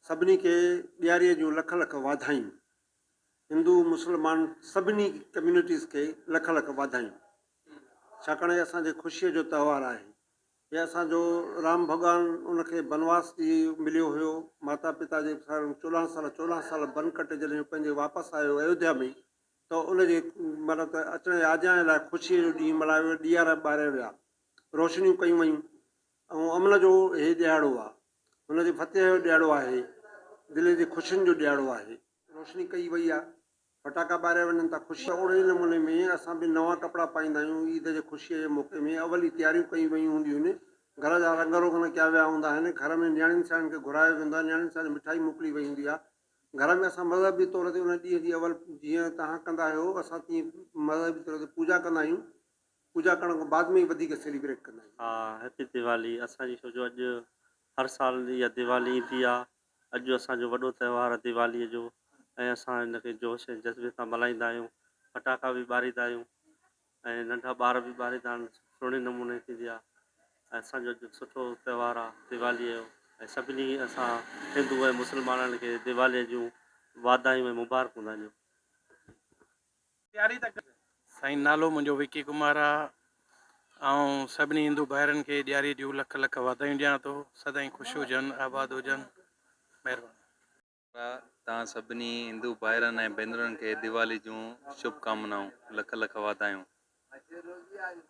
سڀني کي ڏياري جون لک لک واڌايون. هندو مسلمان سڀني ڪميونٽيز کي لک لک واڌايون. ڇاڪاڻ هي اسان جي خوشي جو تهوار آهي. هي اسان جو رام ڀڳوان ان کي بنواس ڏي مليو هيو ماتا پتا جي سان چوڏهن سال چوڏهن سال بن ڪٽي جڏهن پنهنجي واپس آيو ايوڌيا ۾ ته ان جي مطلب ته اچڻ آجيان لاء خوشي جو ڏينهن ملهايو ويو ڏيئارا ٻاريا ويا روشنيون ڪيون ويون ۽ امن جو هي ڏيهاڙو آهي. ان جي فتح جو ڏيهاڙو آهي. دلين جي خوشين جو ڏيهاڙو آهي. روشني ڪئي وئي آهي. فٽاڪا ٻاريا وڃن ٿا خوشي. ته اوڙي ئي نموني ۾ اسان به نوان ڪپڙا پائيندا آهيون. عيد جي خوشيء جي موقعي ۾ اول ئي تياريون ڪيون ويون هونديون آهن. گهر جا رنگ روغن ڪيا ويا هوندا آهن. گهر ۾ نياڻين سياڻين کي گهرايو ويندو آهي. نياڻين سياڻين مٺائي موڪلي وئي هوندي آهي. گهر ۾ اسان مذهبي طور تي ان ڏينهن جي اول جيئن توهان ڪندا آهيو اسان تيئن مذهبي طور تي پوڄا ڪندا آهيون. پوڄا ڪرڻ کان بعد ۾ ئي وڌيڪ سيليبريٽ ڪندا آهيون. ها هيپي ديوالي اسان جي ڇو جو اڄ هر سال اها ديوالي ايندي آهي اڄ جو اسان جو وڏو تهوار آهي ديوالي جو ۽ اسان ان کي جوش ۽ جذبي سان ملهائيندا آهيون ڦٽاڪا به ٻاريندا آهيون ۽ ننڍا ٻار به ٻاريندا آهن سهڻي نموني ٿيندي آهي ۽ اسان جو اڄ سٺو تهوار آهي ديوالي جو ۽ سڀني اسان هندو ۽ مسلمانن کي ديوالي جون واڌايون ۽ مبارڪون ڏيون. سائين نالو منهنجو وڪي ڪمار آ آئون سڀني هندو ڀائرن کي ڏياري جون لک لک واڌايون ڏيان ٿو سدائين خوش هجن آباد هجن مهرباني. توهان سڀني هندو ڀائرن ۽ ڀينرن کي ديوالي جون شڀ ڪامنائون لک لک واڌايون.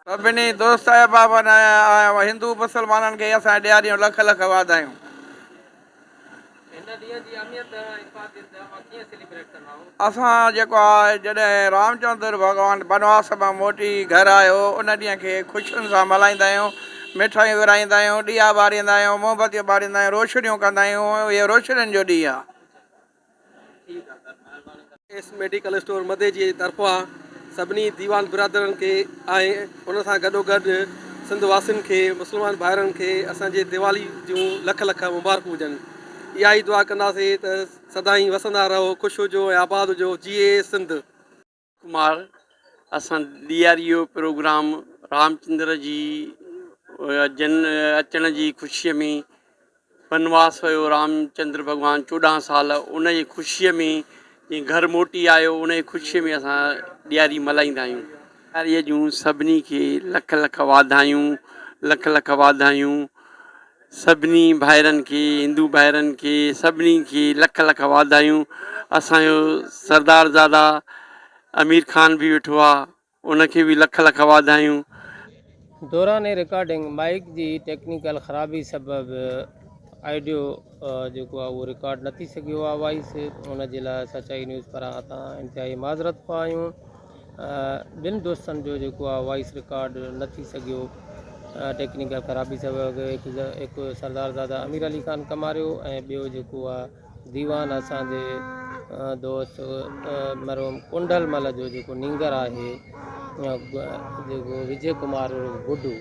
سڀني دوست احبابن ۽ هندو مسلمانن کي اسان جي ڏياري جون لک لک واڌايون. هن ڏينهن جي اهميت ۽ افاديت اوهان ڪيئن سيليبريٽ ڪندائو؟ اسان جيڪو آء جڏهن رام چندر ڀڳوان بنواس مان موٽي گهر آيو ان ڏينهن کي خوشين سان ملهائيندا آهيون مٺايون ورهائيندا آهيون ڏيئا ٻاريندا آهيون مومبتيون ٻاريندا آهيون روشنيون ڪندا آهيون اهو روشنين جو ڏينهن آهي. ايس ميڊيڪل اسٽور مدي جي طرفان سڀني ديوان برادرن کي ۽ ان سان گڏوگڏ سنڌ واسين کي مسلمان ڀائرن کي اسان جي ديوالي جون لک لک مبارڪون هجن اها ئي دعا ڪنداسين ته سدائين وسندا رهو خوش هجو ۽ آباد هجو جيئي سنڌ. ڪمار اسان D R U program Ramchandra ji جن اچڻ جي خوشيء ۾ بنواس ويو رامچندر ڀڳوان چوڏهن سال ان جي خوشيء ۾ جي گهر موٽي آيو ان جي خوشيء ۾ اسان ڏياري ملهائيندا آهيون ڏياريء جون سڀني کي لک لک واڌايون لک لک واڌايون. سڀني ڀائرن کي هندو ڀائرن کي سڀني کي لک لک واڌايون اسان جو سردار زاده امير خان به ويٺو آ ان کي به لک لک واڌايون. دوران رڪارڊنگ مائيڪ جي ٽيڪنيڪل خرابي سبب آئڊيو جيڪو آهي اهو رڪارڊ نه ٿي سگهيو آهي وائيس ان جي لاء سچائي نيوز پاران اسان انتهائي معذرت خواه آهيون. ٻن دوستن جو جيڪو آ وائيس رڪارڊ نه ٿي سگهيو ٽيڪنيڪل خرابي سبب هڪ سردار زاده امير علي خان ڪماريو ۽ ٻيو جيڪو آ ديوان اسان جي دوست مرحوم ڪنڊل مل جو جيڪو نينگر آهي جيڪو وجي ڪمار گڊو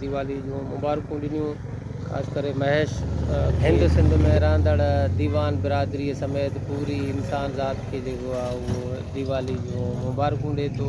ديوالي جون مبارڪون ڏنيون خاص ڪري مهيش کي. هند سنڌ ۾ رهندڙ ديوان برادري سميت پوري انسان ذات کي جيڪو آهي اهو ديوالي جون مبارڪون ڏي ٿو.